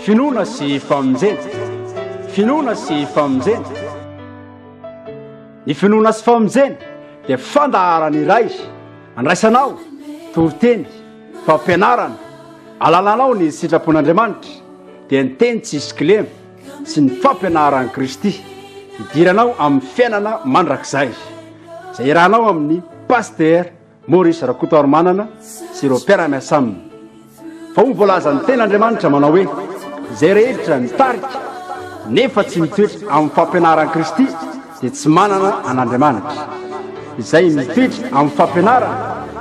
Finoana sy famonjena. Finoana sy famonjena. Ny finoana sy famonjena dia fandaharana iray andraisanao toriteny, fampianarana, alalanao ny sitrapon'Andriamanitra dia ny teny tsisy kilema sy ny fampianaran'i Kristy hidiranao amin'ny fiainana mandrakizay izay irahanao amin'ny pasitera Maurice Rakotoarimanana sy ireo mpiara-miasa aminy fa hoy ny voalazan'ny tena Andriamanitra manao hoe izay rehetra mitarika nefa tsy mitoetra amin'ny fampianaran'i Kristy dia tsy manana an'Andriamanitra. Izay mitoetra amin'ny fampianarany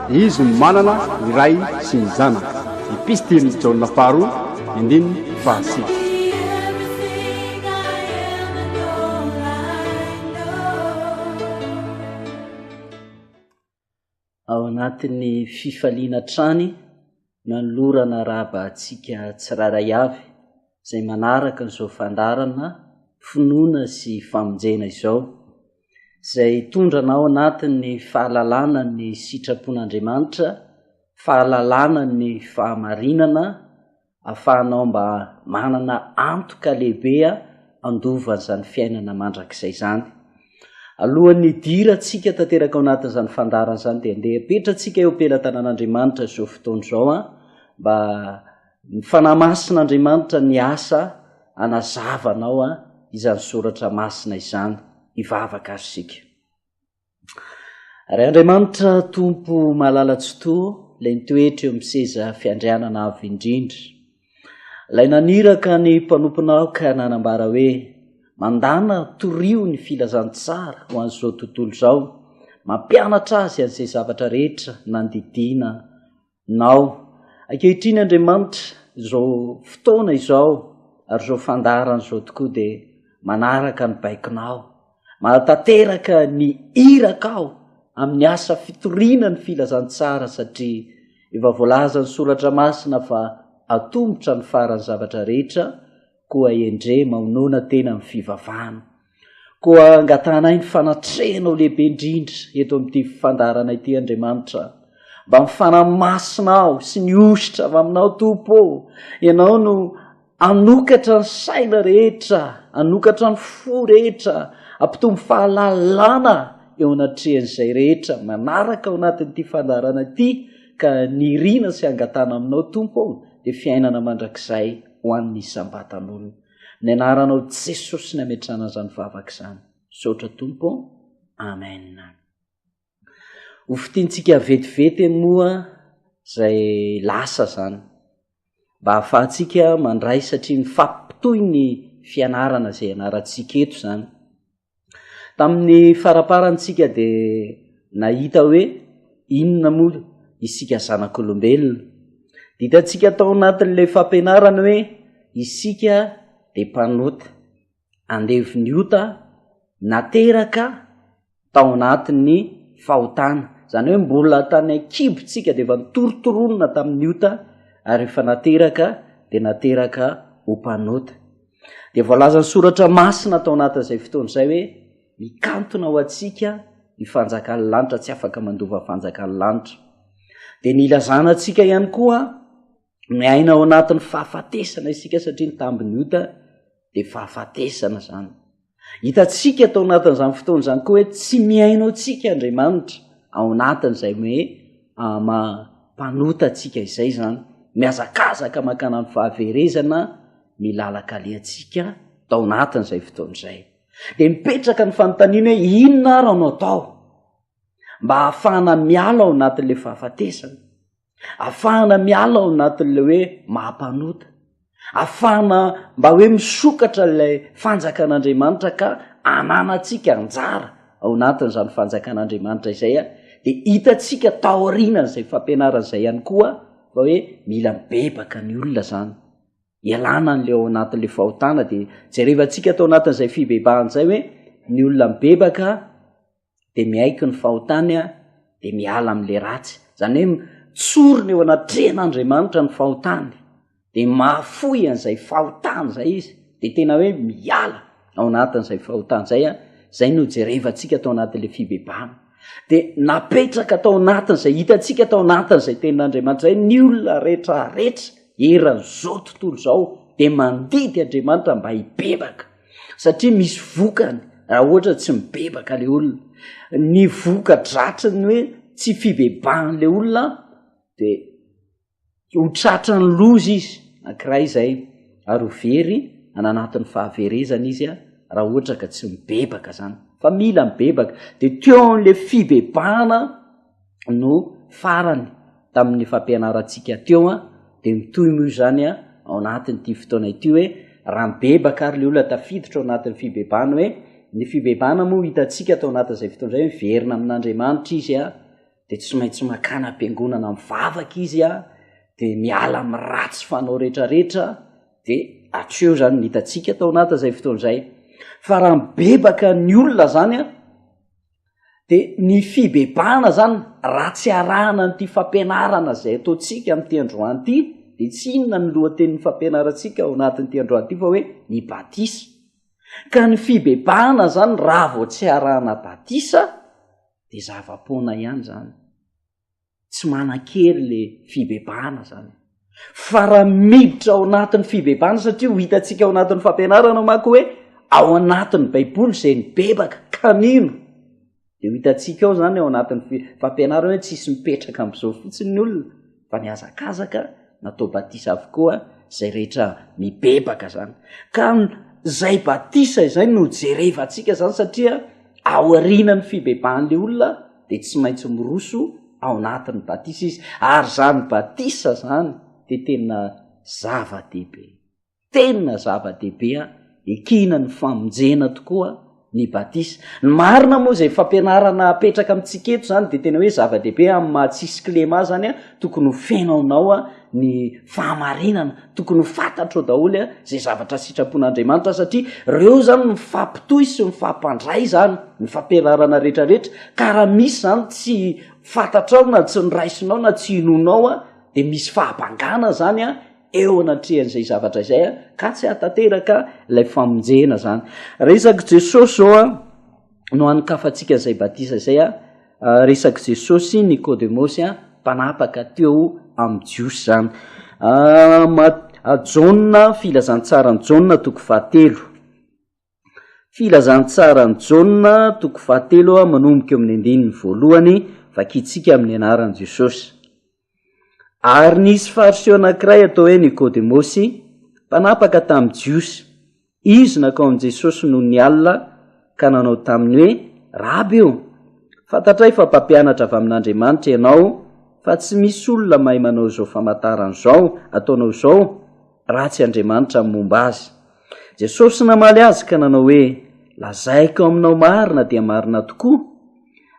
dia izy no manana ny Ray sy ny Zanaka. Epistilin'i Jaona faharoa, endininy fahasivy. ao anatin'ny fifaliana hatrany nanolorana arahaba antsika tsirairay avy izay manaraka an'izao fandarana finoana sy famonjena izao, izay tondrana ao anatin'ny fahalalana ny sitrapon'Andriamanitra, fahalalana ny fahamarinana afahanao mba manana antoka lehibe handova an'izany fiainana mandrakizay izany. Alohan'ny hidirantsika tanteraka ao anatin'izany fandaharana izany dia andeha apetratsika eo am-pelatanan'Andriamanitra izao fotoana izao mba ny Fanahy Masin'Andriamanitra ny asa hanazava anao izany soratra masina izany. Hivavaka ary isika. Ry Andriamanitra Tompo malala tsy toa, ilay nitoetra eo amin'ny seza fiandrianana avo indrindra, ilay naniraka ny mpanomponao ka nanambara hoe mandana torio ny filazantsara ho an'izao tontolo izao, mampianatra azy an'izay zavatra rehetra nandidiana Nao. Ankehitriny Andriamanitra, izao fotoana izao ary izao fandaharana izao tokoa dia manaraka ny baikonao. Manatanteraka ny iraka aho amin'ny asa fitoriana ny filazantsara satria efa voalazan'ny Soratra Masina fa atombotra ny faran'ny zavatra rehetra koa endrey mahonona tena amin'ny fivavahana. Koa angatahanay ny fanatrehanao lehibe indrindra eto amin'ity fandaharana ity Andriamanitra a. Mba mifanahy masina aho sy ny hosotra avy aminao Tompo ô. Ianao no hanokatra ny saina rehetra, hanokatra ny fo rehetra, hampitombo fahalalana eo anatrehan'izay rehetra manaraka ao anatin'ity fandaharana ity ka ny irina sy angatahana aminao Tompo ô dia fiainana mandrakizay ho an'ny isam-batan'olona. Ny anaranao Jesosy ny ametrahana izany vavaka izany. Misaotra Tompo. Amen. Ho fitintsika vetivety moa izay lasa izany. Mba hahafahantsika mandray satria mifampitohy ny fianarana izay ianarantsika eto izany. Tamin'ny faraparany tsika dia nahita hoe inona moa isika zanak'olombelona. Ditantsika tao anatin'ilay fampianarana hoe isika dia mpanota, andevon'ny ota nateraka tao anatin'ny fahotana. Izany hoe mbola tany an-kibo tsika dia efa nitorontoronina tamin'ny ota ary efa nateraka dia nateraka ho mpanota. Dia voalazan'ny soratra masina tao anatin'izay fotoana izay hoe mikantona ho antsika ny fanjakan'ny lanitra tsy afaka mandova ny fanjakan'ny lanitra. Dia nilazana antsika ihany koa ny aina ao anatin'ny fahafatesana isika satria ny tambin'ny ota dia fahafatesana izany. Hitantsika tao anatin'izany fotoana izany koa hoe tsy mihaino antsika Andriamanitra ao anatin'izay hoe maha-mpanota antsika izay izany. Mihazakazaka mankana amin'ny fahaverezana ny lalan-kalehantsika tao anatin'izay fotoana izay. Dia mipetraka ny fanontaniana hoe inona ary no atao mba hahafahana miala ao anatin'ilay fahafatesana? afahana miala ao anatin'ilay hoe maha-mpanota, afahana mba hoe misokatra ilay fanjakan'Andriamanitra ka ananantsika anjara ao anatin'izany fanjakan'Andriamanitra izay a, de hitantsika taorianan'izay fampianarana izay ihany koa fa hoe mila mibebaka ny olona zany, ialana an'le ao anatin'le fahotana de jerevantsika tao anatin'izay fibebahan'izay hoe ny olona mibebaka, dia miaiky ny fahotany a dia miala amin'la ratsy zany hoe tsorony eo anatrehan'andriamanitra ny fahotany dia mahafoy an'izay fahotany zay izy dia tena hoe miala ao anatin'izay fahotany zay a zay no jerevantsika atao anatin'la fibebana dia napetraka atao anatin'izay hitantsika atao anatin'izay tenin'andriamanitra zay ny olona retraretra eran'izao tontolo zao dia mandidy andriamanitra mba hibebaka satria misy vokany raha ohatra tsy mibebaka le olona ny voka dratry ny hoe tsy fibebahan' le olona de ho tratra ny loza izy ankiray zay ary ho very an anatin'ny fahaverezana izy a raha ohatra ka tsy mibebaka zany fa mila mibebaka de teo an'le fibebahana no farany tamin'ny fampianarantsika teo an dia mitohy moa izany an ao anatin'ity fotoana ity hoe raha mibebaka ary le olona tafiditra ao anatin'ny fibebana hoe ny fibebana moa hitantsika tao anatin'izay fotoana izay miverina amin'andriamanitra izy an dia tsy maintsy makana am-piangonana mivavaka izy an dia miala amin'ny ratsy fanao rehetrarehetra dia hatreo izany ny hitantsika tao anatin'izay fotoana izay fa raha mibebaka ny olona zany an de ny fibebahana zany raha tsy arahana n'ity fampianarana zay ataontsika am'ity androany ity de tsy inona ny lohatenin'ny fampianarantsika ao anatin'ity androany ity fa hoe ny batisa ka ny fibebahana zany raha vao tsy arahana batisa de zava-poana ihany zany Tsy manan-kery le fibebahana zany. Fa raha miditra ao anatin'ny fibebahana satria ho hitantsika ao anatin'ny fampianarana manko hoe ao anatin'ny baiboly izay nibebaka ka nino de ho hitantsika ao zany ao anatin'ny fi- fampianarana hoe tsisy mipetraka am'izao fotsiny ny olona fa ny azakazaka natao batisa avokoa zay rehetra mibebaka zany ka zay batisa izay no jerevantsika zany satria aorianan'ny fibebahan'le olona dia tsy maintsy miroso ao anatin'ny batisa izy ary izany batisa izany dia tena zava-dehibe tena zava-dehibe a ekina ny famonjena tokoa ny batisa ny marina moa izay fampianarana apetraka amintsika eto izany dia tena hoe zava-dehibe amin'ny mahatsisy klema zany a tokony ho fenaonao a ny fahamarinana tokony ho fantatrao daholo a zay zavatra sitrapon'andriamanitra satria reo zany mifampitohy sy mifampandray zany ny fampianarana retraretra ka raha misy zany tsy fantatrao na tsy nyraisinao na tsy inonao a de misy fahabangana zany a eo anatrehan'izay zavatra izay a ka tsy atanteraka ilay famonjena zany resak'i jesosy zao a no an'kafantsika zay batisa izay a Ah, resak'i Jesosy sy Nikodemosy an, mpanapaka teo amin'ny Jiosy izany. Ah, ma, ah, Jaona, filazantsaran'i Jaona toko fahatelo. Filazantsaran'i Jaona toko fahatelo manomboka eo amin'ny andininy voalohany, vakintsika amin'ny anaran'i Jesosy. Ary nisy Fariseo anankiray atao hoe Nikodemosy, mpanapaka tamin'ny Jiosy. Izy nankao amin'i Jesosy noho ny alina ka nanao taminy hoe, Raby ô, fantatray fa mpampianatra avy amin'Andriamanitra ianao, fa tsy misy olona mahay manao izao famantarana izao ataonao izao raha tsy Andriamanitra no momba azy. Jesosy namaly azy ka nanao hoe, Lazaiko aminao marina dia marina tokoa,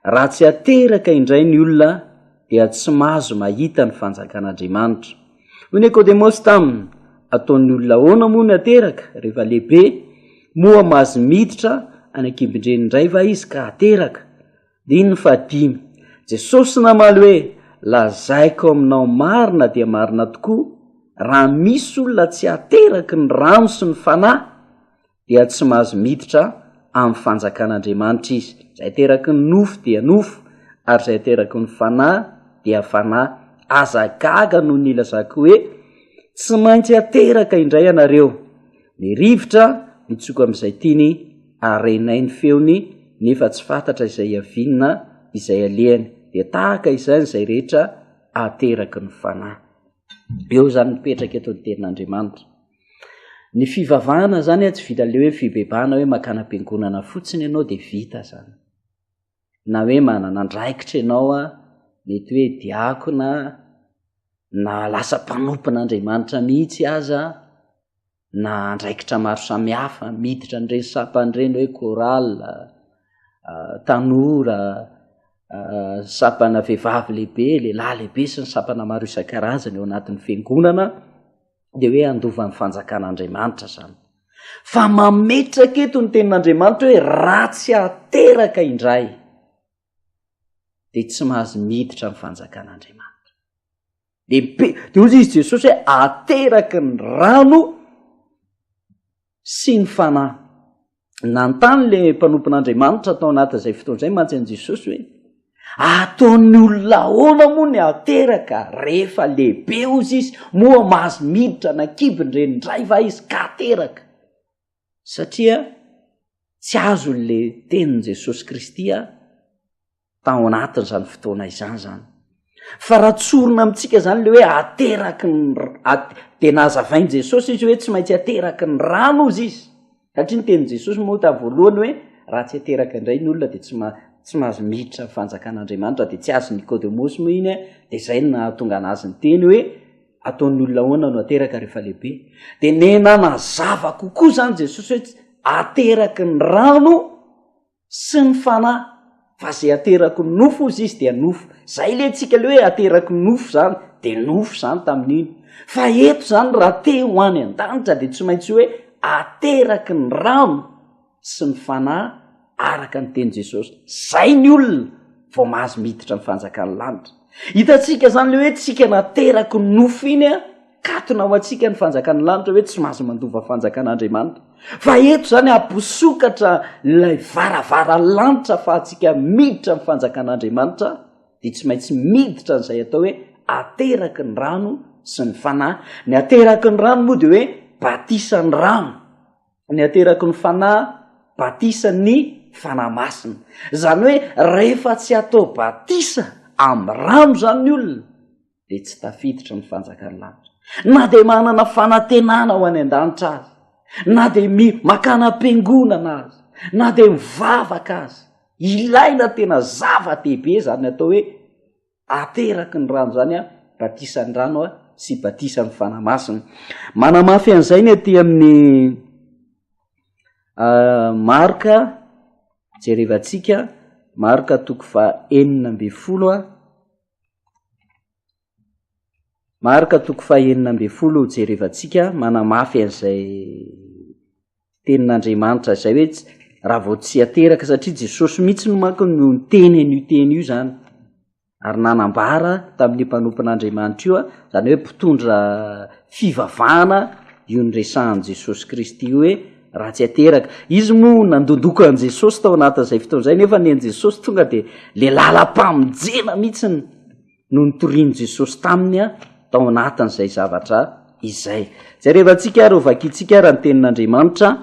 raha tsy ateraka indray ny olona dia tsy mahazo mahita ny fanjakan'Andriamanitra. Hoy Nikodemosy taminy, Ataon'ny olona ahoana moa ny hateraka, rehefa lehibe? Moa mahazo miditra any an-kibin-dreniny indray va izy ka hateraka? Din. Ny fahadimy. Jesosy namaly hoe, Lazaiko aminao marina dia marina tokoa, raha misy olona tsy ateraky ny rano sy ny Fanahy, dia tsy mahazo miditra amin'ny fanjakan'Andriamanitra izy. Izay ateraky ny nofo dia nofo, ary izay ateraky ny fanahy dia fanahy. Aza gaga noho ny ilazako hoe, Tsy maintsy ateraka indray ianareo. Ny rivotra mitsoka amin'izay tiany, ary renay ny feony, nefa tsy fantatra izay iaviana, izay alehany. Dia tahaka izany izay rehetra ateraky ny fanahy. Eo izany mipetraka eto ny tenin'Andriamanitra. Ny fivavahana zany tsy vita le hoe fibebahana hoe makana am-piangonana fotsiny ianao dia vita zany. Na hoe manana andraikitra ianao a, mety hoe diakona na lasa mpanompon'Andriamanitra mihitsy aza na andraikitra maro samihafa miditra an'ireny sampany ireny hoe chorale, tanora, sampana vehivavy lehibe, lehilahy lehibe sy ny sampana maro isan-karazany ao anatin'ny fiangonana. dia hoe handova ny fanjakan'andriamanitra zany fa mametraka eto ny tenin'andriamanitra hoe raha tsy ateraka indray de tsy mahazo miditra ny fanjakan'andriamanitra de mpe de ozy izy jesosy hoe ateraka ny rano sy ny Fanahy. Nanontany ilay mpanompon'Andriamanitra tao anatin'izay fotoana izay mantsy an'i Jesosy hoe, Ataon'ny olona ahoana moa ny hateraka rehefa lehibe, hozy izy, moa mahazo miditra na kibo ny reniny indray va izy ka hateraka? Satria tsy azon'ilay tenin'i Jesosy Kristy tao anatin'izany fotoana izany zany fa raha tsorina amintsika zany le hoe ateraky ny at de nahazavainy jesosy izy hoe tsy maintsy ateraky ny rano ozy izy satria ny teniny jesosy moa ta voalohany hoe raha tsy ateraka indray ny olona de tsy ma tsy mahazo miditra ny fanjakan'andriamanitra de tsy azo nikôdemosy moa iny e de zay no nahatonga ana azy ny teny hoe ataon'ny olona hoana no ateraka rehefa lehibe de nenanazava kokoa zany jesosy hoe ateraky ny rano sy ny fanahy fa zay ateraky ny nofo ozy izy dia nofo zay le tsika le hoe ateraky ny nofo zany de nofo zany tamin'iny fa eto zany raha te ho any an-danitra de tsy maintsy hoe ateraky ny rano sy ny fanahy araka ny teny jesosy zay ny olona vao mahazo miditra ny fanjakan'ny lanitra hitatsika zany le hoe tsika nateraky ny nofo iny a Katona ho antsika ny fanjakan'ny lanitra hoe tsy mahazo mandova fanjakan'Andriamanitra. Fa eto izany amposokatra ilay varavara lanitra fa antsika miditra ny fanjakan'Andriamanitra dia tsy maintsy miditra n'izay atao hoe ateraky ny rano sy ny fanahy. Ny ateraky ny rano moa dia hoe batisa ny rano. Ny ateraky ny fanahy batisa ny fanahy masina. Izany hoe rehefa tsy atao batisa amin'ny rano izany ny olona, dia tsy tafiditra ny fanjakan'ny lanitra na dia manana fanantenana ho any an-danitra azy na dia mi makana am-piangonana azy na dia mivavaka azy ilaina tena zava-dehibe zany atao hoe ateraky ny rano zany a batisan'ny rano a sy batisan'ny fanahy masina manamafy an'izay ny aty amin'ny ah, marka jerevantsika marka toko fa enina mbe folo a Marka toko fahenina ambin'ny folo jerevantsika manamafy an'izay tenin'Andriamanitra izay hoe raha vao tsy ateraka satria Jesosy mihitsy no manko no niteny an'io teny io zany ary nanambara tamin'ny mpanompon'Andriamanitra io a, zany hoe mpitondra fivavahana io niresahan'i Jesosy Kristy io hoe. ratsy ateraka. Izy moa nandondoko an'i Jesosy tao anatin'izay fotoana izay, nefa ny an'i Jesosy tonga dia le lalam-pamonjena mihitsiny no nitorian'i Jesosy taminy a, tao anatin'izay zavatra izay. Jerevantsika ary ho vakintsika ary ny tenin'Andriamanitra,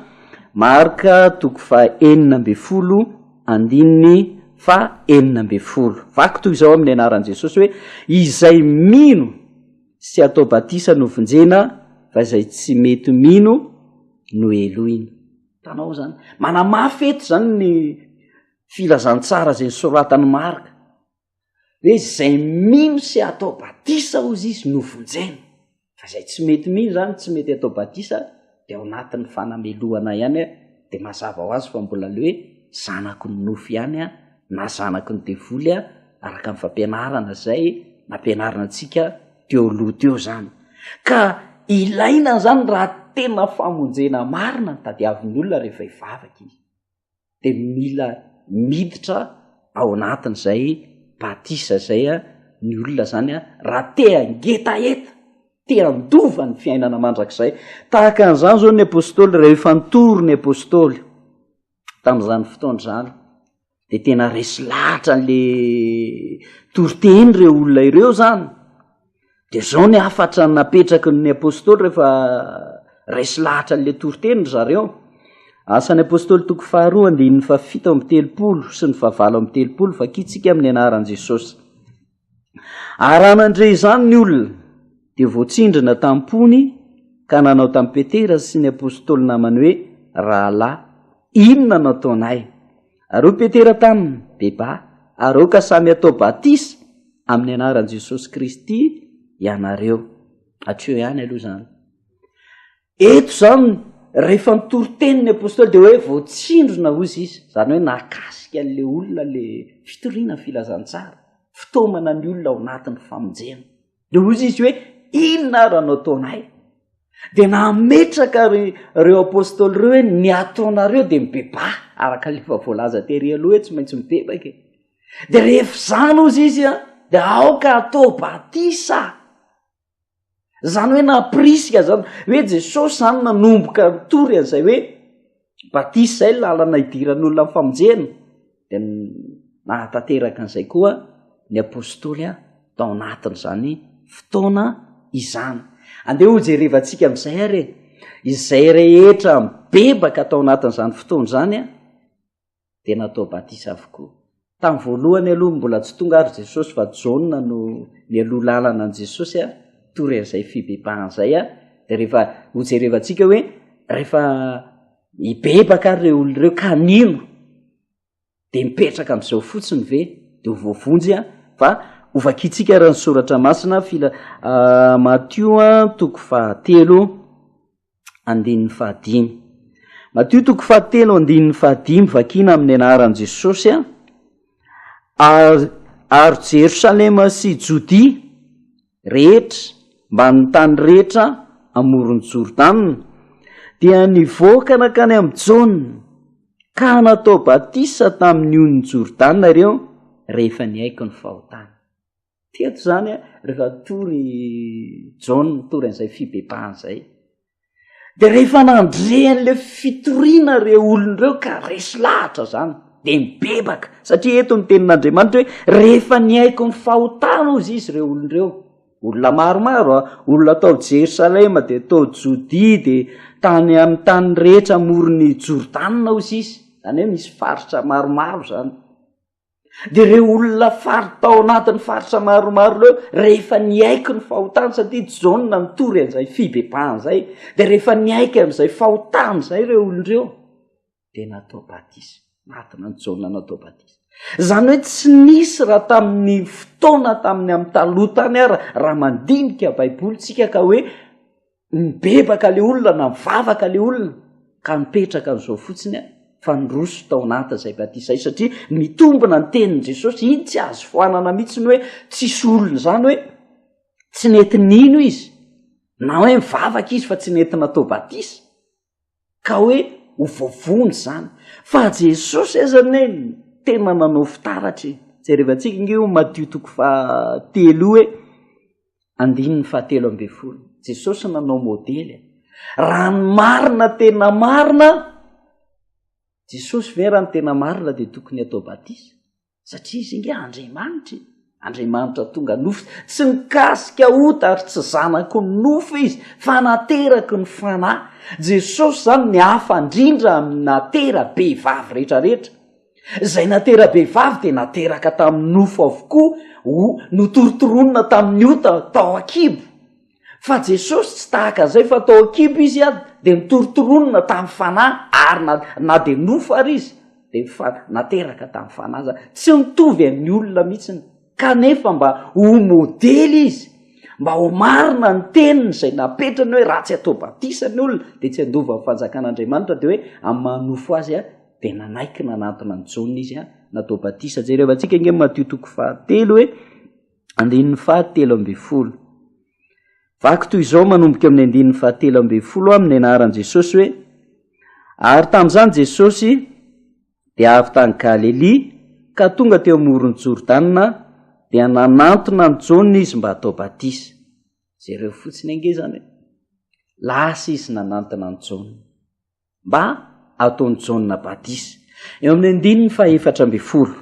Marka toko fa enina amby folo, andininy fa enina amby folo. Vaky toy izao amin'ny anaran'i Jesosy hoe, izay mino. sy atao batisa no vonjena fa izay tsy mety mino no helohina. Hitanao zany? Manamafy eto zany ny filazantsara izay nosoratan'i Marka hoe izay mino sy atao batisa ozy izy no vonjena fa izay tsy mety mino zany tsy mety atao batisa dia ao anatin'ny fanamelohana ihany dia mazava ho azy fa mbola ilay hoe zanako ny nofo ihany na zanako ny devoly araka ny fampianarana izay nampianarina antsika teo aloha teo izany ka ilaina izany raha tena famonjena marina ny tadiavin'ny olona rehefa hivavaka izy dia mila miditra ao anatin'izay batisa izay ny olona izany a raha te hangetaheta te handova ny fiainana mandrakizay tahaka an'izany izao ny apôstôly rehefa nitory ny apôstôly tamin'izany fotoana izany dia tena resy lahatra an'la toriteny ireo olona ireo izany Dia izao ny hafatra napetraky ny Apôstôly rehefa resy lahatra an'ilay toriteny ry zareo. Asan'ny Apôstôly toko faharoa andininy fa fito amby telopolo sy ny fahavalo amby telopolo fa kitsika amin'ny anaran'i Jesosy. Araha nandre izany ny olona dia voatsindrina tampony ka nanao tamin'i Petera sy ny Apôstôly namany hoe rahalahy inona no ataonay? Ary hoy Petera taminy, Beba, ary aoka samy hatao batisa amin'ny anaran'i Jesosy Kristy ianareo. Hatreo ihany aloha izany. Eto izany, rehefa nitory teny ny apostoly dia hoe voatsindrona hoy izy, izany hoe nakasika an'ilay olona ilay fitoriana ny filazantsara, fitaomana ny olona ao anatin'ny famonjena. de hozy izy hoe inona ara no ataonay de nametraka ry reo apôstôly reo hoe ny ataonareo de mibeba araka lefa voalaza tery aloha hoe tsy maintsy mibebaka e de rehefa zany ozy izy a de aoka atao batisa zany hoe napirisika zany hoe jesosy zany nanomboka nitory an'izay hoe batisa izay ny lalana hidiran'olona ny famonjena dia nahatanteraka an'izay koa ny apostoly a tao anatin'izany fotoana izany andeha ho jerevantsika amin'izay ary e izay rehetra mibebaka tao anatin'izany fotoana izany a dia natao batisa avokoa. Tamin'ny voalohany aloha mbola tsy tonga ary Jesosy fa Jaona no nialoha lalana an'i Jesosy a, tory an'izay fibebahana izay a, dia rehefa hojerevantsika hoe rehefa hibebaka ary ireo olona ireo ka nino dia mipetraka amin'izao fotsiny ve dia ho voavonjy a fa hovakintsika ary ny soratra masina fila Matio a toko fahatelo. andininy fahadimy. Matio toko fahatelo andininy fahadimy vakina amin'ny anaran'i Jesosy a ary ary Jerosalema sy Jodia rehetra mba ny tany rehetra amoron'i Jordana dia nivoaka nakany amin'i Jaona ka natao batisa tamin'ny onon'i Jordana ireo rehefa nihaiko ny fahotany. Teto izany a, rehefa tory John tory an'izay fibebahana izay. Dia rehefa nandre an'ilay fitoriana re olon'ireo ka resy lahatra izany, dia mibebaka. Satria eto ny tenin'Andriamanitra hoe rehefa nihaiko ny fahotana ozy izy ireo olon'ireo. Olona maromaro a, olona tao Jerosalema dia tao Jodia dia tany amin'ny tany rehetra moron'ny Jordana ozy izy. Izany hoe misy faritra maromaro izany. Dia ireo olona fary tao anatin'ny faritra maromaro ireo, rehefa niaiky ny fahotany, satria Jaona nitory an'izay fibebahana izay, dia rehefa niaiky an'izay fahotany izay ireo olona ireo, dia natao batisa. Natona an'i Jaona natao batisa. Izany hoe tsy nisy raha tamin'ny fotoana tamin'ny amin'ny taloha tany ara, raha mandinika Baiboly tsika ka hoe Nibebaka le olona, navavaka le olona, ka nipetraka an'izao fotsiny a, fa niroso tao anaty izay batisa izay, satria mitombina ny tenin'i Jesosy, iny tsy azo foanana mihitsy ny hoe tsisy olona izany hoe tsy nety nino izy, na hoe mivavaka izy fa tsy nety natao batisa, ka hoe ho voavono izany fa Jesosy aza anie tena nanao fitaratra e! jerevantsika ange io Matio toko fahatelo io hoe andininy fahatelo ambin'ny folo Jesosy nanao modely e! raha ny marina tena marina Jesosy ve raha ny tena marina dia tokony atao batisa satria izy inge andriamanitra e andriamanitra tonga nofo tsy mikasika ota ary tsy zanako ny nofo izy fa nateraky ny fanahy jesosy zany ny hafa indrindra ami'ny natera be vavy rehetrarehetra zay natera be vavy de nateraka tamin'ny nofo avokoa o notorotoronina tamin'ny ota tao akibo Fa Jesosy tsy tahaka izay fa tao an-kibo Izy a, dia notorontoronina tamin'ny Fanahy ary na, na dia nofo ary Izy, dia fa nateraka tamin'ny Fanahy aza. Tsy mitovy amin'ny olona mihitsiny. Kanefa mba ho modely Izy, mba ho marina ny teniny izay napetrany hoe raha tsy atao batisa ny olona dia tsy handova amin'ny fanjakan'Andriamanitra, dia hoe amin'ny maha-nofo azy a, dia nanaiky nanantona an'i Jaona Izy a, natao batisa. Jerevantsika ange Matio toko fahatelo hoe. Andininy faha telo ambin'ny folo. Vaky toy izao manomboka amin'ny andininy faha telo ambin'ny folo amin'ny anaran'i Jesosy hoe, Ary tamin'izany Jesosy dia avy tany Galelia ka tonga teo amoron'i Jordana dia nanantona an'i Jaona izy mba hatao batisa. Jereo fotsiny ange izany hoe, lasa izy nanantona an'i Jaona. mba ataon'i Jaona batisa. Eo amin'ny andininy fahefatra ambin'ny folo.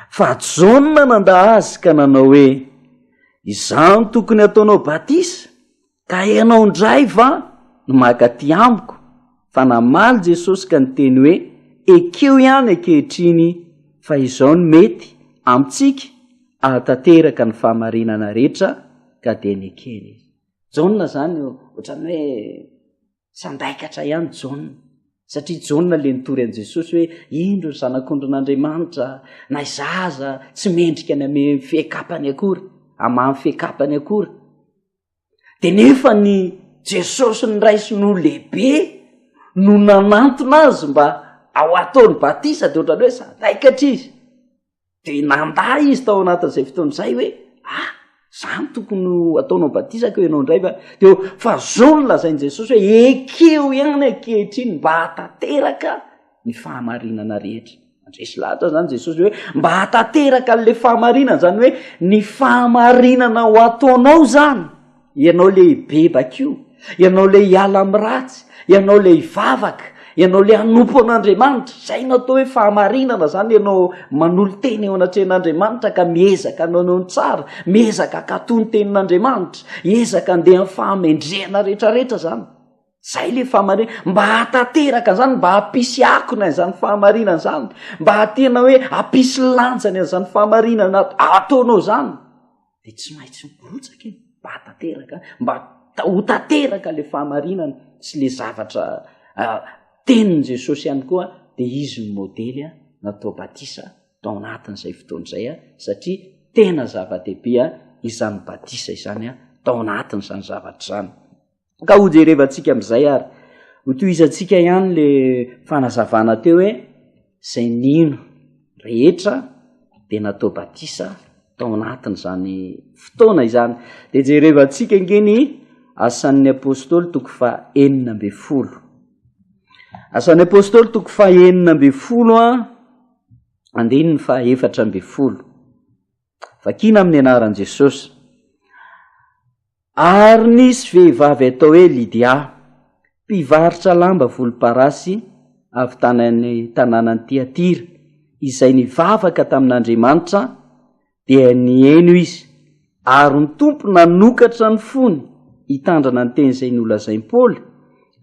Fa Jaona nandà azy ka nanao hoe, Izaho no tokony hataonao batisa, ka ianao indray va no maka aty amiko? Fa namaly Jesosy ka niteny hoe, Ekeo ihany ankehitriny fa izao no mety amintsika ahatanteraka ny fahamarinana rehetra, ka dia nekeny izy. Jaona izany ohatran'ny hoe Sandaikatra ihany Jaona, satria Jaona ilay nitory an'i Jesosy hoe indro ny zanak'ondrin'Andriamanitra, na izaho aza tsy mendrika ny ame fiekapany akory, amany fiekapany akory. Dia nefa ny Jesosy ny ray sy no lehibe no nanantona azy mba ao ataony batisa, dia ohatrany hoe sandaikatra izy. dia nandà izy tao anatin'izay fotoana izay hoe ah zany tokony ho ataonao batisa ko ianao indray va deo fa zao no lazain'i jesosy hoe ekeo ihany ankehitriny mba hatateraka ny fahamarinana rehetra andresy lahatra zany jesosy hoe mba hatateraka an'la fahamarinana zany hoe ny fahamarinana ho ataonao zany ianao le hibebaka io ianao le hiala ami'ny ratsy ianao le hivavaka ianao le hanompo an'andriamanitra zay no atao hoe fahamarinana zany ianao manolo tena eo anatrehan'andriamanitra ka miezaka anao anao ny tsara miezaka akato ny tenin'andriamanitra ezaka andeha ny fahamendrehana rehetrarehetra zany zay le fahamarinan mba hahatateraka zany mba hampisy akony an'izany fahamarinana zany mba hatena hoe hampisy lanjany an'izany fahamarinana ataonao zany dia tsy maitsy mirotsaka iny mba tanteraka mba ho tanteraka le fahamarinana sy le zavatra ah, teniny jesosy ihany koa dia izy ny modely a natao batisa tao anatin'izay fotoana izay a satria tena zava-dehibe a izany batisa izany a tao anatin'izany zavatra izany Ka hojerevantsika amin'izay ary hotohizantsika ihany le fanazavana teo hoe zay nino rehetra de natao batisa tao anatin'izany fotoana izany. De jerevantsika ange ny asan'ny apôstôly toko fa enina amby folo. Asan'ny apôstôly toko fa enina amby folo a, andininy fa efatra amby folo. Vakina amin'ny anaran'i Jesosy. Ary nisy vehivavy atao hoe Lydia, mpivarotra lamba volomparasy avy tany amin'ny tanànan'i Tyatira, izay nivavaka tamin'Andriamanitra, dia nihaino izy. Ary ny Tompo nanokatra ny fony hitandrina ny teny izay nolazain'i Paoly,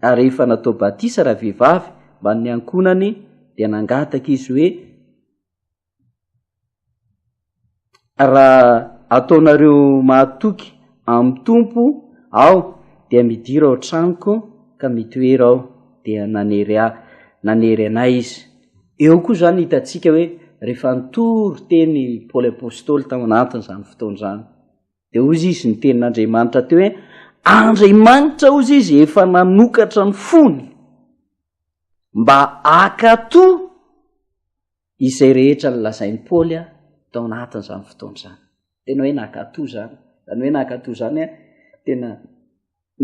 ary rehefa natao batisa ravehivavy mbamin'ny ankohonany, dia nangataka izy hoe, Raha ataonareo mahatoky amin'ny Tompo aho, dia midira ao an-tranoko ka mitoera ao, dia nanery ahy, nanery anay izy. Eo koa izany hitantsika hoe rehefa nitory teny Paoly Apostoly tao anatin'izany fotoana izany, dia hoy izy ny tenin'Andriamanitra teo hoe, Andriamanitra hoy izy efa nanokatra ny fony mba hakato Izay rehetra nolazain'i Paoly tao anatin'izany fotoana izany. Tena hoe nankatò izany. Izany hoe nankatò izany, tena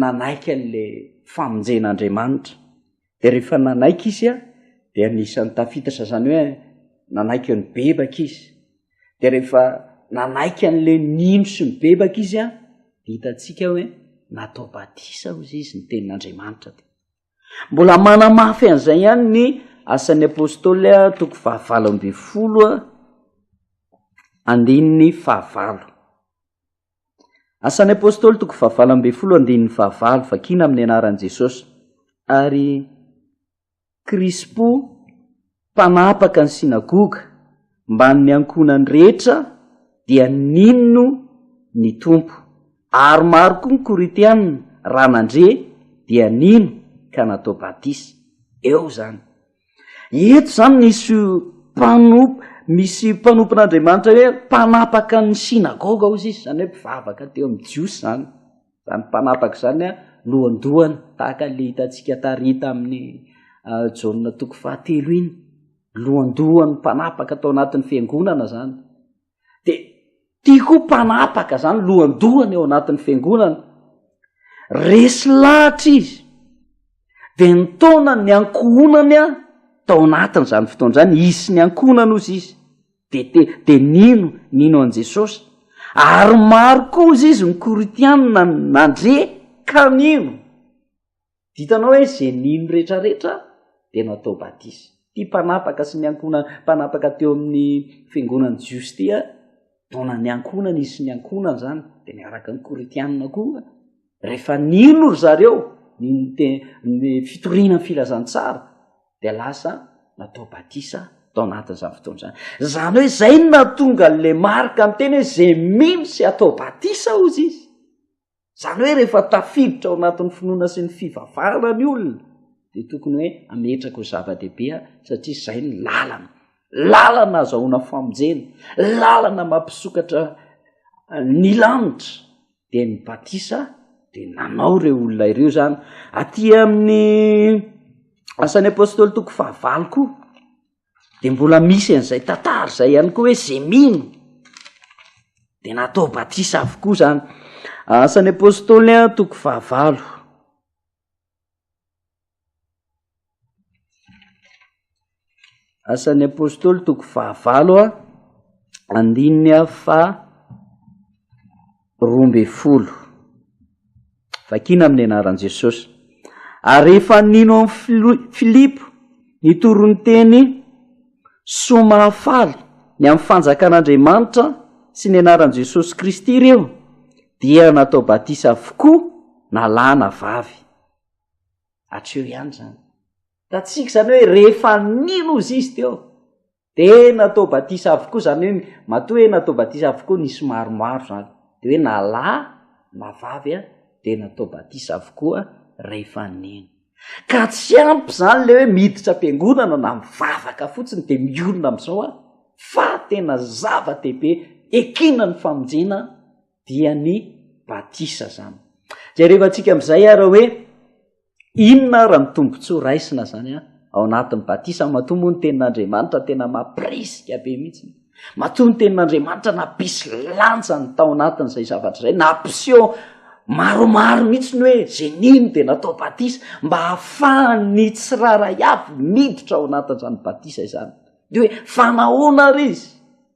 nanaiky an'ilay famonjen'Andriamanitra. Dia rehefa nanaiky izy, dia anisan'ny tafiditra izany hoe nanaiky eo nibebaka izy. Dia rehefa nanaiky an'ilay nino sy nibebaka izy, dia hitantsika hoe natao batisa hoy izy ny tenin'Andriamanitra. Mbola manamafy an'izay ihany ny Asan'ny Apôstôly, toko fahavalo ambin'ny folo, andininy fahavalo. Asan'ny Apôstôly, toko fahavalo ambin'ny folo, andininy fahavalo, vakina amin'ny anaran'i Jesôsy, ary Krispo, mpanapaka ny synagoga mbamin'ny ankohonany rehetra, dia nino ny Tompo, ary maro koa ny Korintiana raha nandre dia nino ka natao batisa. Eo izany. Eto izany misy mpanomp, misy mpanompon'Andriamanitra hoe mpanapaka ny synagoga ozy izy, izany hoe mpivavaka teo amin'ny Jiosy izany. Izany mpanapaka izany an, lohandohany tahaka ilay hitantsika tary tamin'ny Jaona toko fahatelo iny. Lohandohan'ny mpanapaka tao anatin'ny fiangonana izany. Dia tia koa mpanapaka izany lohandohany ao anatin'ny fiangonana. Resy lahatra izy. Dia ny taona ny ankohonany an, tao anatin'izany fotoana izany, hisy ny ankohonana ozy izy. Dia te, dia nino, nino an'i Jesosy. Ary maro kosa izy ny Korintiana nandre ka nino. Dia hitanao hoe izay nino rehetrarehetra dia natao batisa. Ity mpanapaka sy ny ankohonany, mpanapaka teo amin'ny fiangonan'ny Jiosy ity, taonan'ny ankohonany izy sy ny ankohonany izany, dia niaraka ny Korintiana koa Rehefa nino ry zareo ny nte- ny fitoriana ny filazantsara, dia lasa natao batisa tao anatin'izany fotoana izany. Izany hoe izay no nahatonga an'ilay Marka niteny hoe izay mino sy atao batisa, hozy izy. Izany hoe rehefa tafiditra ao anatin'ny finoana sy ny fivavahana ny olona, dia tokony hoe ametraka ho zava-dehibe aho satria izay ny lalana. Lalana ahazahoana famonjena, lalana mampisokatra ny lanitra dia ny batisa dia nanao ireo olona ireo zany aty amin'ny asan'ny apôstôly toko fahavalo koa de mbola misy an'izay tatara izay ihany koa hoe ze mino de natao batisa avokoa zany asan'ny apôstôly a toko fahavalo Asan'ny Apôstôly toko fahavalo a andininy a fa roa mbe folo vakina amin'ny anaran'i Jesosy ary rehefa nino amin'i Filo- Filipo ny toron-teny soa mahafaly ny amin'ny fanjakan'Andriamanitra sy ny anaran'i Jesosy Kristy ireo Dia natao batisa avokoa na lahy na vavy. Hatreo ihany izany. Hitantsika izany hoe rehefa nino izy izy teo, dia natao batisa avokoa, izany hoe matoa hoe natao batisa avokoa nisy maromaro izany. Dia hoe na lahy na vavy dia natao batisa avokoa rehefa nino. Ka tsy ampy izany ilay hoe miditra am-piangonana na mivavaka fotsiny dia mionona amin'izao aho, fa tena zava-dehibe ekena ny famonjena dia ny batisa izany. Jerevantsika amin'izay ary hoe inona ary ny tombontsoa raisina izany ao anatin'ny batisa matoa moa ny tenin'Andriamanitra tena mampirisika be mihitsy. Matoa ny tenin'Andriamanitra nampisy lanjany tao anatin'izay zavatra izay, nampiseho maromaro mihitsy ny hoe izay nino dia natao batisa mba hahafahan'ny tsirairay avy miditra ao anatin'izany batisa izany. Dia hoe fanahoana ary izy?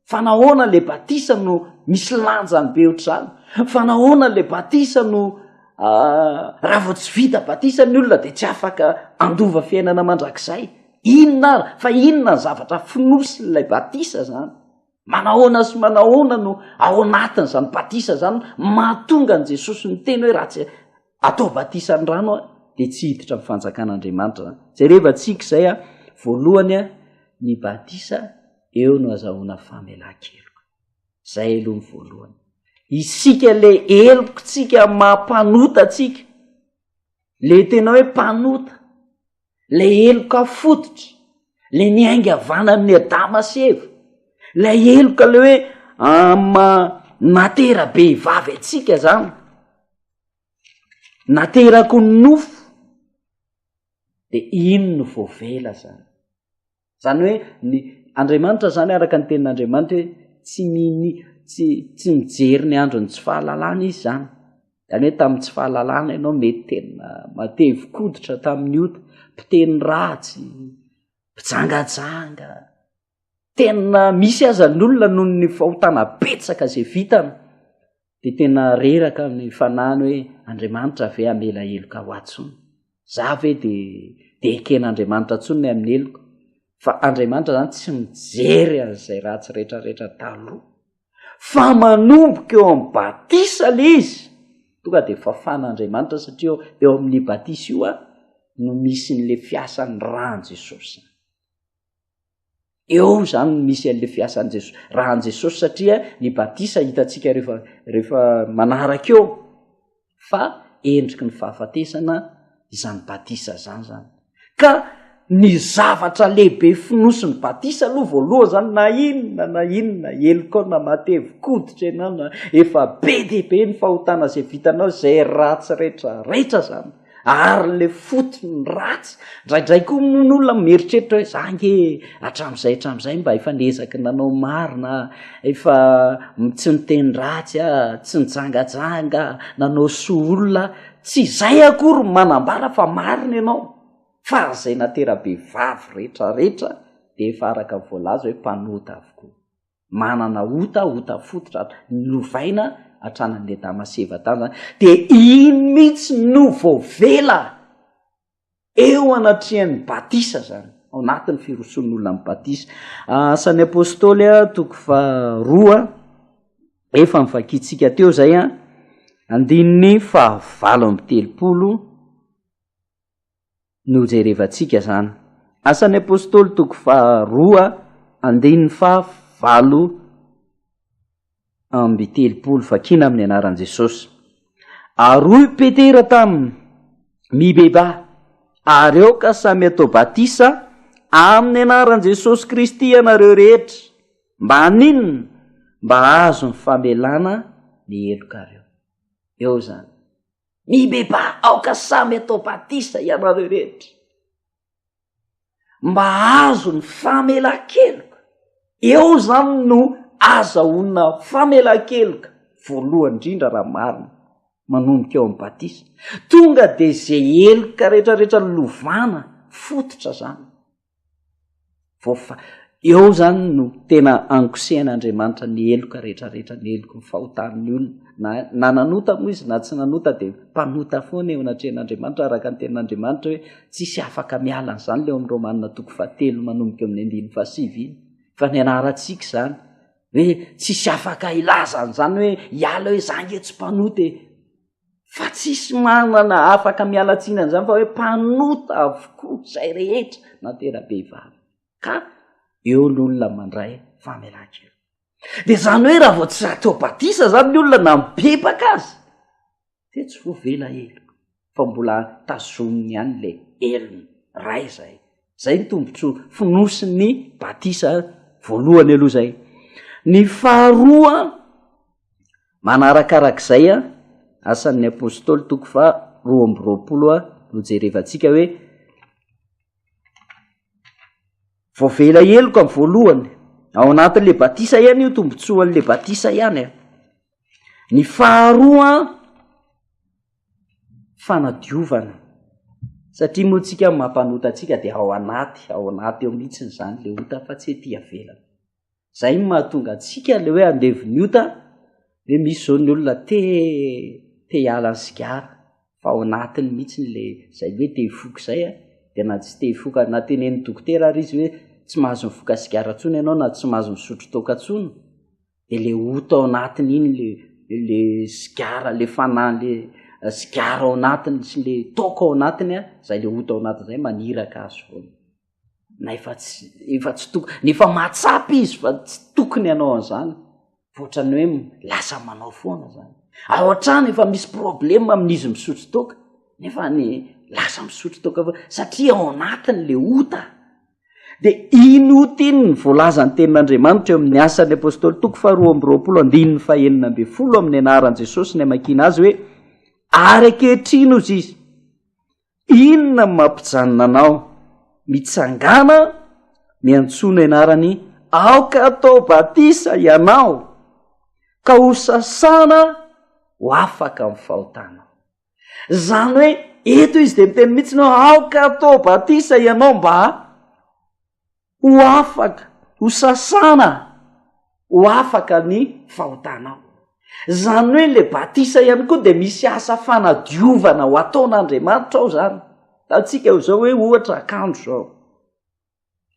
Fanahoana ilay batisa no misy lanjany be ohatr'izany? Fanahoana ilay batisa no ah, raha vao tsy vita batisa ny olona dia tsy afaka handova fiainana mandrakizay? Inona ary? Fa inona ny zavatra fonosin'ilay batisa izany? Manahoana sy manahoana no ao anatin'izany batisa izany no mahatonga an'i Jesosy niteny hoe raha tsy atao batisa ny rano aho dia tsy hiditra amin'ny fanjakan'Andriamanitra izany? Jerevantsika izay a, voalohany a, ny batisa eo no azahoana famelan-keloka. Izay aloha ny voalohany. Isika ilay helokontsika maha-mpanota antsika, ilay tena hoe mpanota, ilay heloka fototra, ilay niainga avy any amin'i Adama sy Eva, ilay heloka ilay hoe matera-behivavy antsika izany, naterako ny nofo, dia iny no voavela izany. zany hoe ny andriamanitra zany araka ny tenin'andriamanitra hoe tsy mini tsy tsy mijery ny andro ny tsy fahalalana izy zany zany hoe tamin'ny tsy fahalalana ianao mety tena matevikoditra tamin'ny ota mpiteny ratsy mpijangajanga tena misy aza ny olona noho ny fahotana betsaka zay vitana Dia tena reraka ny fanahiny hoe Andriamanitra ve hamela heloka ho ahy tsony? Za ve dia dia eken'Andriamanitra tsony ny amin'ny heloka? Fa Andriamanitra zany tsy mijery an'izay ratsy retraretra taloha. Fa manomboka eo amin'ny batisa le izy. Tonga dia fafan'Andriamanitra satria eo amin'ny batisa io a no misy an'le fiasan'ny ràn'i Jesosy. Eo izany no misy an'ilay fiasan'i Jesosy. Raha an'i Jesosy satria ny batisa hitantsika rehefa rehefa manaraka eo fa endriky ny fahafatesana izany batisa izany zany. Ka ny zavatra lehibe fonosin'ny batisa aloha voalohany zany na inona na inona helokao na matevi-koditra ianao na efa be dia be ny fahotana izay vitanao izay ratsy rehetra rehetra zany. Ary le fotony ny ratsy, ndraindray koa moa ny olona mieritreritra hoe za nge hatramin'izay hatramin'izay mba efa niezaky ny nanao marina, efa tsy niteny ratsy aho, tsy nijangajanga, nanao soa olona aho. Tsy izay akory no manambara fa marina ianao, fa izay natera-behivavy rehetrarehetra dia efa araka ny voalaza hoe mpanota avokoa. manana ota ota fototra ato lovaina atrananle dama seva tany zany de iny mitsy no vo vela eo anatriany batisa zany ao natiny firoson'olona am batisa asan'ny apostoly a toko fa roa efa mivakitsika teo zay a andininy fa valo amby telopolo no jerevantsika zany. Asan'ny Apostoly toko faha roa andininy faha valo amby telopolo, vakina amin'ny anaran'i Jesosy. Ary hoy Petera taminy, Mibebaha, ary aoka samy atao batisa amin'ny anaran'i Jesosy Kristy ianareo rehetra, mba haninona? Mba hahazo ny famelana ny helokareo. Eo zany. Mibebaha aoka samy atao batisa ianareo rehetra mba azo ny famelan-keloka. Eo izany no azahoana famelan-keloka voalohany indrindra raha marina, manomboka eo amin'ny batisa. Tonga dia izay heloka rehetrarehetra lovana fototra izany. Voafa, eo izany no tena ankosehan'Andriamanitra ny heloka rehetrarehetra, ny heloky ny fahotan'ny olona. Na, na nanota moa izy na tsy nanota dia mpanota foana eo anatrehan'Andriamanitra araka ny tenin'Andriamanitra hoe tsisy afaka miala an'izany ilay ao amin'ny Romana toko fahatelo manomboka eo amin'ny andininy fahasivy iny. Fa ny anarantsika izany hoe tsisy afaka hilaza an'izany hoe hiala hoe za nge tsy mpanota e. fa tsisy manana afaka miala tsiny an'izany fa hoe mpanota avokoa izay rehetra na tena-behivavy ka eo ny olona mandray famelan-keloka de zany hoe raha vao tsy atao batisa zany ny olona na mibebaka azy de tsy voavela heloka fa mbola tazominy ihany le helony ray zay zay ny tombotsoa fonosin'ny batisa voalohany aloha zay ny faharoa Manarakarak'izay, Asan'ny Apostoly, toko faha roa amby roapolo, no jerevantsika hoe, voavela heloka amin'ny voalohany, ao anatin'ilay batisa ihany io tombontsoan'ilay batisa ihany. Ny faharoa, fanadiovana, satria moa tsika mampanota antsika dia ao anaty, ao anaty ao mihitsiny izany ilay ota fa tsy ety ivelany. Zay no mahatonga antsika le hoe andevo ny ota de misy zao ny olona te te hiala ny sigara fa ao anatiny mihitsy le zay hoe te hifoka zay a, de na tsy te hifoka na teneniny dokotera ary izy hoe tsy mahazo mifoka sigara tsony enao na tsy mahazo misotro toaka tsony de le ota ao anatiny iny le le sigara le fanahy le sigara ao anatiny sy le toaka ao anatiny a zay le ota ao anatiny zay maniraka azy foana. na efa tsy efa tsy toko ny efa mahatsapa izy fa tsy tokony ianao an'izany fotrany hoe lasa manao foana zany ao an-trano efa misy probleme amin'izy misotro toka nefa ny lasa misotro toka fa satria ao anatiny le ota de iny ota iny ny voalazany tenin'andriamanitra eo amin'ny asan'ny apôstôly toko fa roa amby roapolo andininy fahenina amby folo amin'ny anaran'i jesosy ny amakina azy hoe ary akehitrino izy izy Inona no mampijanona anao? Mitsangàna miantsoana ianarany aoka atao batisa ianao ka ho sasana ho afaka amin'ny fahotanao. Izany hoe eto izy dia miteny mihitsy hoe aoka atao batisa ianao mba Ho afaka ho sasana ho afaka ny fahotanao. Izany hoe ilay batisa ihany koa dia misy asa fanadiovana ho ataon'Andriamanitra ao izany. Ataontsika izao hoe ohatra akanjo izao,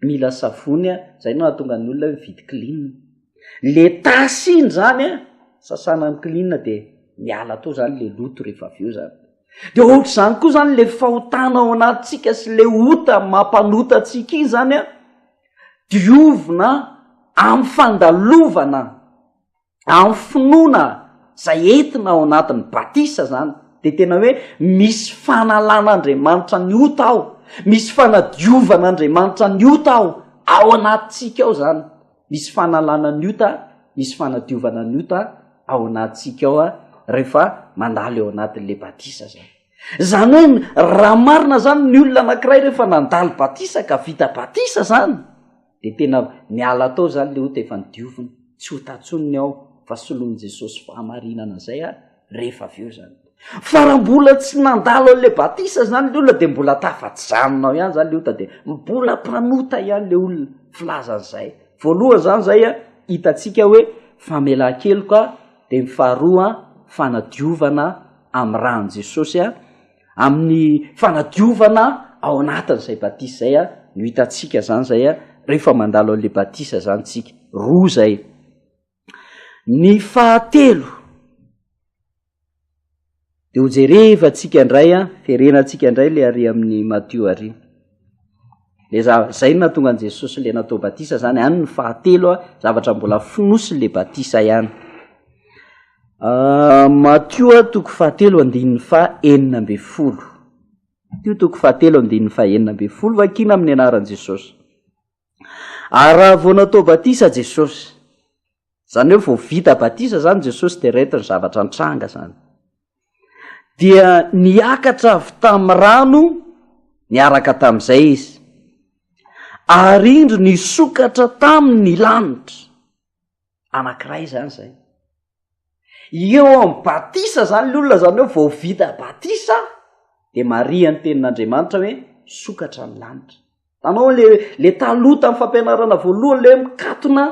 mila savony an, izay no hahatonga ny olona hoe mividy klin. Le tasy iny izany an, sasana amin'ny klin dia miala tao izany le loto rehefa avy eo izany. Dia ohatr'izany koa izany ilay fahotana ao anatintsika sy ilay ota mampanota antsika iny izany an, diovina amin'ny fandalovana, amin'ny finoana izay entina ao anatin'ny batisa izany, dia tena hoe misy fanalan'Andriamanitra ny ota ao, misy fanadiovan'Andriamanitra ny ota ao, ao anatintsika ao izany. Misy fanalana ny ota, misy fanadiovana ny ota ao anatintsika ao rehefa mandalo eo anatin'le batisa zany. Zany hoe raha marina zany ny olona anakiray rehefa nandalo batisa ka vita batisa zany de tena miala tao zany le ota efa ny dioviny, tsy ota tsony ny ao fa solon'i Jesosy fahamarinana zay a, rehefa avy eo zany fa raha mbola tsy nandalo an'la batisa zany le olona de mbola tafajanona ao ihany zany le ota de mbola mpanota ihany le olona filazan'zay voalohany zany zay a hitatsika hoe famelan-keloka de ny faharoa fanadiovana amy rany jesosy a amin'ny fanadiovana ao anatin'zay batisa zay a no hitatsika zany zay a rehefa mandalo an'la batisa zany tsika roa zay Ny fahatelo, de ho jerevantsika indray an, terenantsika indray le ary amin'ny Matio ary. Le za- zay no nahatonga an'i Jesosy le natao batisa zany, any ny fahatelo an, zavatra mbola fonosiny le batisa ihany. Matio a, toko fahatelo andininy fahenina amby folo, Matio toko fahatelo andininy fahenina amby folo, vakina amin'ny anaran'i Jesosy. Ary raha vao natao batisa Jesosy, izany hoe vao vita batisa izany Jesosy dia reto ny zavatra nitranga izany. Dia niakatra avy tamin'ny rano niaraka tamin'izay izy. Ary indro nisokatra tamin'ny lanitra. anankiray izany izay eo amin'ny batisa zany le olona zany hoe vao vita batisa de maria ny tenin'andriamanitra hoe sokatra ny lanitra tanao le le taloha tamin'ny fampianarana voalohany le hoe mikatona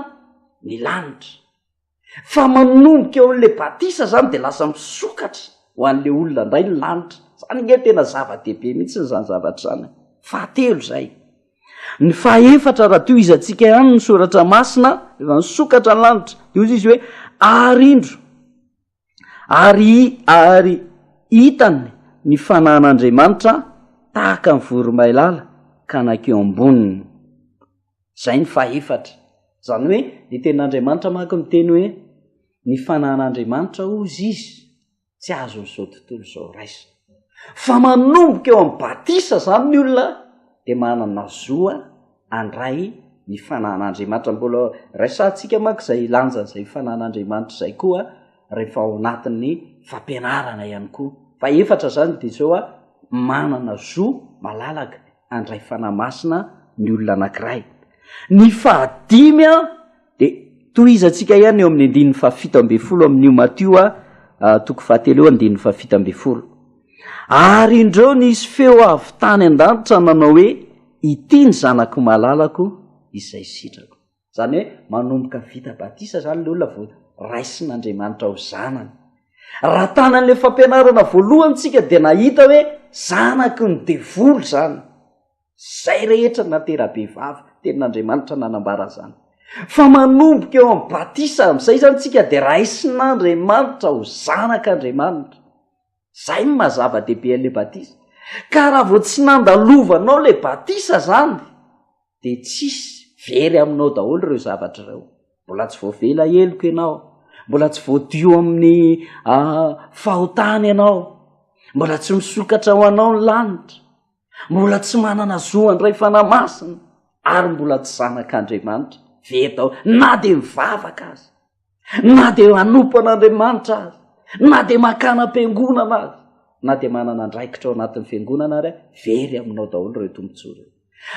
ny lanitra fa manomboka eo an'le batisa zany de lasa misokatra ho an'le olona ndray ny lanitra zany nge tena zava-dehibe mihitsy ny zany zavatra zany fahatelo zay Ny fahefatra, raha tohizantsika ihany ny soratra masina, efa nisokatra ny lanitra, dia hoy izy hoe, ary indro, ary, ary hitany ny fanahin'Andriamanitra tahaka ny voromailala ka nankeo amboniny. Izay ny fahefatra. Izany hoe, ny tenin'Andriamanitra manko miteny hoe, ny fanahin'Andriamanitra hozy izy. tsy azon'izao tontolo izao raisina. Fa manomboka eo amin'ny batisa izany ny olona dia manana zoa handray ny fananan'Andriamanitra. Mbola raisantsika manko izay lanjan'izay fananan'Andriamanitra izay koa rehefa ao anatin'ny fampianarana ihany koa. Fa efatra izany dia izao a, manana zo malalaka handray fanahy masina ny olona anankiray. Ny fahadimy a. Dia tohizantsika ihany eo amin'ny andininy fahafito ambin'ny folo amin'io Matio a, toko fahatelo eo andininy fahafito ambin'ny folo. Ary indreo nisy feo avy tany an-danitra nanao hoe, Ity ny Zanako malalako izay sitrako. Izany hoe manomboka vita batisa izany ilay olona vao raisin'Andriamanitra ho zanany. Raha tany amin'ilay fampianarana voalohany isika dia nahita hoe zanaky ny devoly izany. Izay rehetra no natera-behivavy, tenin'Andriamanitra nanambara izany. Fa manomboka eo amin'ny batisa amin'izay izany isika dia raisin'Andriamanitra ho zanak'Andriamanitra. Izay no maha-zava-dehibe an'ilay batisa. Ka raha vao tsy nandalovanao ilay batisa izany, dia tsisy, very aminao daholo ireo zavatra ireo. Mbola tsy voavela heloka ianao, mbola tsy voadio amin'ny fahotana ianao, mbola tsy misokatra ho anao ny lanitra. mbola tsy manana zo handray fanahy masina ary mbola tsy zanak'Andriamanitra veta aho na dia mivavaka azy na dia hanompo an'Andriamanitra azy na dia makana am-piangonana azy na dia manana andraikitra ao anatin'ny fiangonana ary very aminao daholo ireo tombontsoa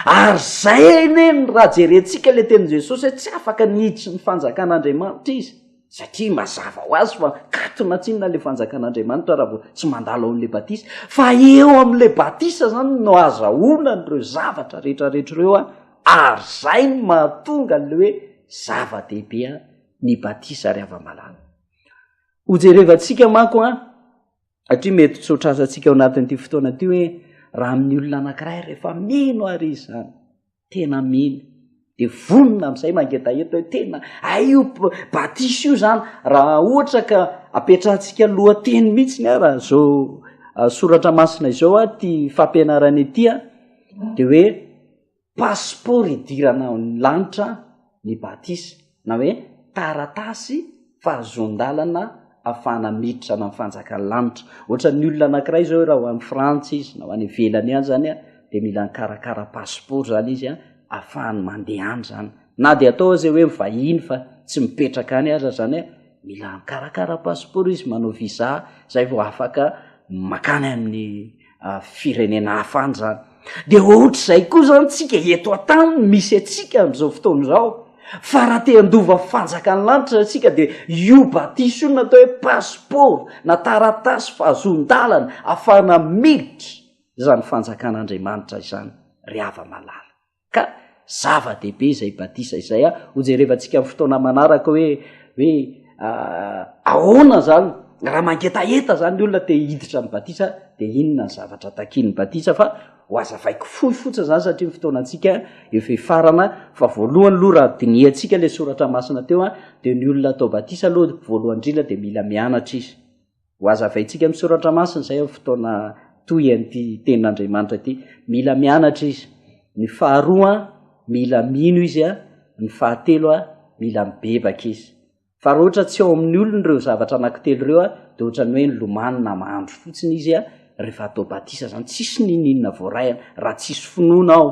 ary zay anie ny raha jerentsika le tenin'i Jesosy hoe tsy afaka niditry ny fanjakan'Andriamanitra izy satria mazava ho azy fa katona tsinona ilay fanjakan'Andriamanitra raha vao tsy mandalo ao amin'ilay batisa, fa eo amin'ilay batisa izany no azahoana an'ireo zavatra rehetrarehetra ireo a, ary izay no mahatonga an'ilay hoe zava-dehibe a ny batisa ary hava-malala. Hojerevantsika manko a, satria mety tsy ho tratrantsika ao anatin'ity fotoana ity hoe raha amin'ny olona anankiray rehefa mino ary izy izany, tena mino de vonona am'izay mangetaheta hoe tena aio batisa io zany raha ohatra ka apetrahantsika lohateny mihitsy ny araha zao ah, soratra masina izao a ty fampianarana ity a de hoe pasipaoro idirana ny lanitra ny batisa, na hoe taratasy fahazoan-dalana afahana miditra ana ny fanjakan'ny lanitra. Ohatran'ny olona anankiray izao hoe raha ho any Frantsa izy, na ho any ivelany any zany a, dia mila nikarakara passeport zany izy a, afahany mandeha any zany. Na dia atao aza hoe mivahiny fa tsy mipetraka any aza zany a, mila mikarakara passeport izy, manao visa, zay vao afaka makany amin'ny firenena hafa any zany de ohatr'izay koa zany tsika eto an-tany misy antsika am'izao fotoana izao fa raha te handova fanjakan'ny lanitra antsika de io batisa io natao hoe passeport na taratasy fahazoan-dalana afahana miditra izany fanjakan'andriamanitra izany ry hava-malala Ka zava-dehibe izay batisa izay a, ho jerevantsika amin'ny fotoana manaraka hoe hoe ahoana zany raha mangetaheta zany ny olona te hiditra ny batisa de inona ny zavatra takian'ny batisa fa ho azavaiko fohy fotsiny zany satria ny fotoana antsika efa efarana fa voalohany loha raha dinihantsika le soratra masina teo a de ny olona atao batisa aloha voalohany indrindra de mila mianatra izy Ho hazavaintsika amin'ny soratra masina izay amin'ny fotoana toy an'ity tenin'Andriamanitra ity. Mila mianatra izy. Ny faharoa, mila mino izy. Ny fahatelo, mila mibebaka izy. Fa raha ohatra tsy ao amin'ny olony ireo zavatra anankitelo ireo, dia ohatran'ny hoe nilomano na mandro fotsiny izy rehefa atao batisa izany. Tsisy n'inon'inona voarahina raha tsisy finoana ao.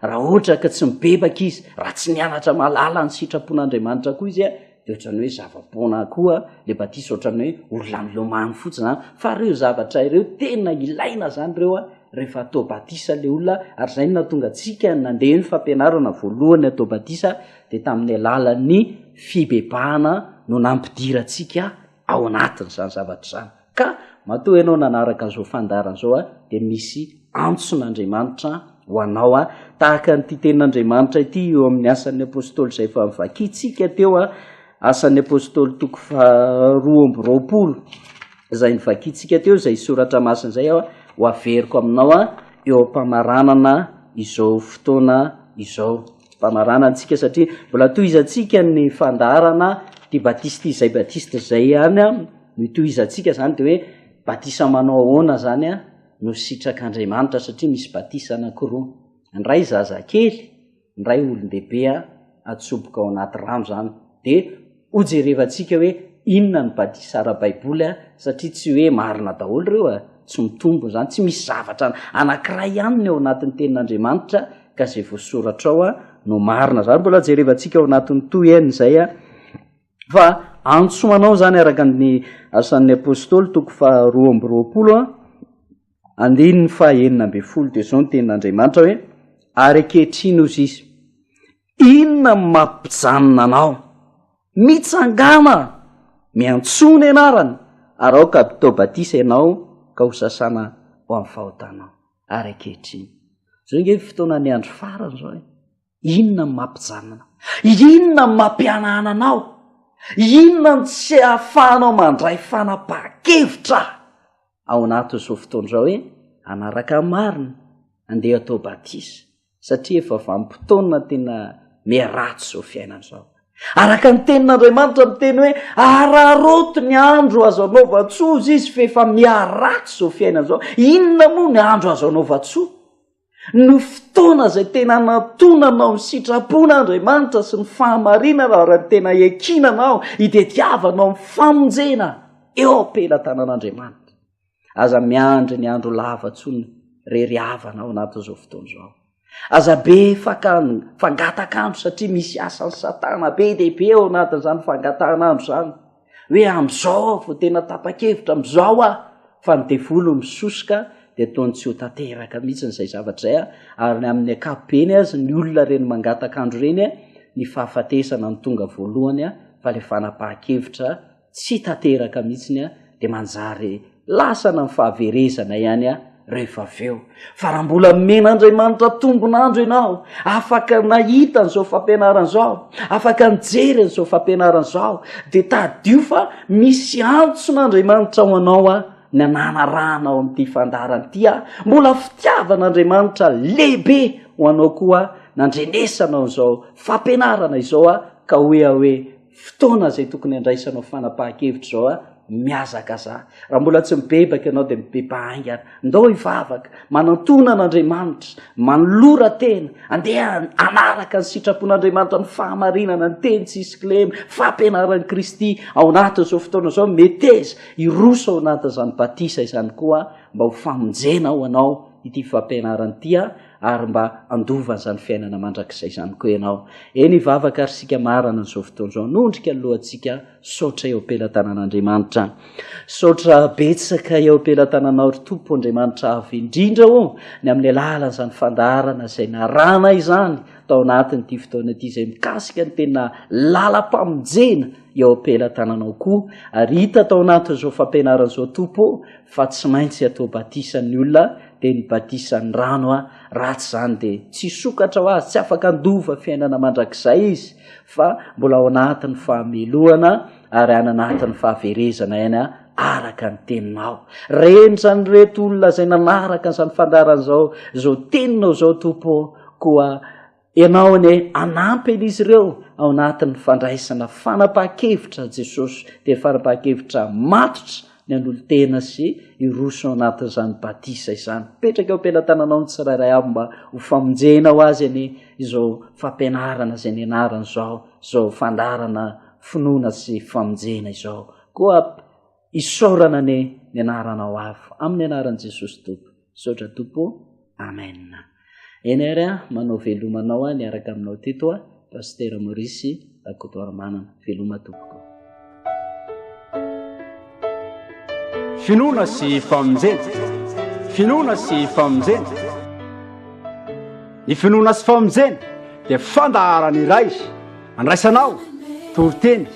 Raha ohatra ka tsy mibebaka izy, raha tsy nianatra mahalala ny sitrapon'Andriamanitra koa izy, de ohatran'ny hoe zava-poana koa le batisa ohatran'ny hoe olona milomano fotsiny an fa reo zavatra ireo tena ilaina zany reo a rehefa atao batisa le olona ary zay no natonga antsika nandeha ny fampianarana voalohany atao batisa de tamin'ny alalan'ny fibebahana no nampidirantsika ao anatin' izany zavatra izany Ka matoa ianao nanaraka an'izao fandaharana izao dia misy antson'Andriamanitra ho anao tahaka an'ity tenin'Andriamanitra ity eo amin'ny Asan'ny Apôstôly izay efa novakintsika teo, Asan'ny Apôstôly toko faharoa amby roapolo izay novakintsika teo izay soratra masina izay aho ho averiko aminao eo am-pamaranana izao fotoana izao. Mpamaranana antsika satria mbola tohizantsika ny fandaharana ity batista izay batista izay ihany. no itohizantsika zany de hoe batisa manao ahoana zany a no sitrak'andriamanitra satria misy batisa anakiroa ny ray zazakely ny ray olondehibe a atsoboka ao anaty rano zany de hojerevantsika hoe inona ny batisa ara-baiboly a satria tsy hoe marina daholo reo a tsy mitombony zany tsy misy zavatra anakiray ihany ny ao anatin'ny tenin'andriamanitra ka zay voasoratra ao a no marina zany mbola jerevantsika ao anatin'ny toy en' izay a Fa antso ho anao izany araka ny Asan'ny Apôstôly toko faharoa amby roapolo andininy fahenina ambin'ny folo dia izao ny tenin'Andriamanitra hoe ary ankehitriny hozy izy inona no mampijanona anao mitsangana miantsoa ny anarany ary aoka abitao batisa ianao ka ho sasana ho amin'ny fahotanao ary ankehitriny izao inge fotoana ny andro farany izao e Inona no mampijanona? Inona no mampihanahana anao? Inona no tsy ahafahanao mandray fanapahan-kevitra? Ao anatin'izao fotoana izao hoe hanaraka ny marina, handeha hatao batisa, satria efa vanim-potoana tena miharatsy izao fiainana izao. Araka ny Tenin'Andriamanitra miteny hoe araraoty ny andro azo anaovan-tsoa, hoy Izy, fa efa miharatsy izao fiainana izao. Inona moa ny andro azo anaovan-tsoa? Ny fotoana izay tena anantonana ao ny sitrapon'Andriamanitra sy ny fahamarinana ary ny tena iankinana ao, itediavana ao amin'ny famonjena eo am-pelatanan'Andriamanitra. Aza miandry ny andro lava intsony re ry havana ao anatin'izao fotoana izao. Aza be fangataka andro satria misy asan'i Satana be dia be ao anatin'izany fangatahan'andro izany. hoe amin'izao vao tena tapa-kevitra amin'izao aho fa ny devoly misosoka dia toa ny tsy ho tanteraka mihitsy n'izay zavatra izay a ary ny amin'ny akapobeny azy ny olona ireny mangataka andro ireny a ny fahafatesana ny tonga voalohany a fa le fanapaha-kevitra tsy tanteraka mihitsy ny a dia manjary Lasana ny fahaverezana ihany aho rehefa avy eo. Fa raha mbola nomen'Andriamanitra tombon'andro ianao, afaka nahita an'izao fampianarana izao, afaka nijery an'izao fampianarana izao, dia tadidio fa misy antson'Andriamanitra ho anao aho, ny hanarahana ao amin'ity fandaharana ity aho. Mbola fitiavan'Andriamanitra lehibe ho anao koa aho, nandrenesanao an'izao fampianarana izao aho, ka hoe aho hoe, Fotoana izay tokony handraisanao fanapahan-kevitra izao a! Mihazakaza. Raha mbola tsy mibebaka ianao dia mibeba haingana. Ndao hivavaka, manantona an'Andriamanitra, manolora tena, andeha hanaraka ny sitrapon'Andriamanitra, ny fahamarinana, ny teny tsy hisy kilema, fampianaran'i Kristy ao anatin'izao fotoana izao. Meteza, hiroso ao anatin'izany batisa izany koa mba ho famonjena ho anao ity fampianarana ity a! ary mba handova an'izany fiainana mandrakizay izany koa ianao. Eny hivavaka ary isika marana an'izao fotoana izao, hanondrika ny lohantsika, saotra eo am-pelatanan'Andriamanitra. Saotra betsaka eo am-pelatananao ry Tompo Andriamanitra avo indrindra o, ny amin'ny alalan'izany fandaharana izay naranay izany tao anatin'ity fotoana ity izay mikasika ny tena lalam-pamonjena eo am-pelatananao koa, ary hita tao anatin'izao fampianarana izao Tompo o, fa tsy maintsy atao batisa ny olona dia ny batisan'ny rano a raha tsy izany dia tsy sokatra ho azy tsy afaka handova fiainana mandrakizay izy fa mbola ao anatin'ny fahamelohana ary any anatin'ny fahaverezana ihany a araka ny teninao renjany reto olona izay nanaraka izany fandaran'izao izao teninao izao tompo koa Ianao anie hanampy an'izy ireo ao anatin'ny fandraisana fanapahan-kevitra Jesosy dia fanapahan-kevitra matotra ny hanolo-tena sy hiroso ao anatin'izany batisa izany. Mipetraka eo am-pelatananao ny tsirairay avy mba ho famonjena ho azy anie izao fampianarana izay nianarany izao, izao fandaharana finoana sy famonjena izao. Koa Isaorana anie ny anaranao avo amin'ny anaran'i Jesosy Tompo. Misaotra Tompo ô. Amen. Eny ary a, manao veloma anao aho niaraka aminao teto a, Pasitera Maurice Rakotoarimanana. Veloma Tompoko. Finoana sy famonjena. Finoana sy famonjena. Ny finoana sy famonjena dia fandaharana iray andraisanao toriteny.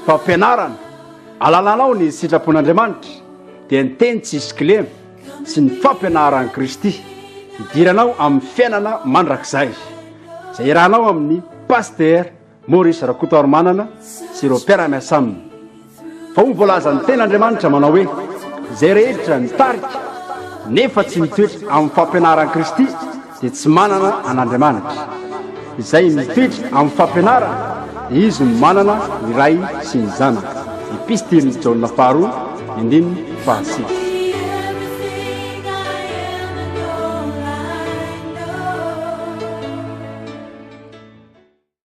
Fampianarana, Alalanao ny sitrapon'Andriamanitra dia ny teny tsy hisy kilema sy ny fampianaran'i Kristy hidiranao amin'ny fiainana mandrakizay izay iarahanao amin'ny Pasitera Maurice Rakotoarimanana sy ireo mpiara-miasa aminy. Fa hoy ny voalazan'ny tenin'Andriamanitra manao hoe izay rehetra nitarika nefa tsy nitoetra amin'ny fampianaran'i Kristy dia tsy manana an'Andriamanitra, izay mitoetra amin'ny fampianarana, dia izy no manana ny Ray sy ny Zanaka. Epistilin'i Jaona faharoa, andininy fahasivy.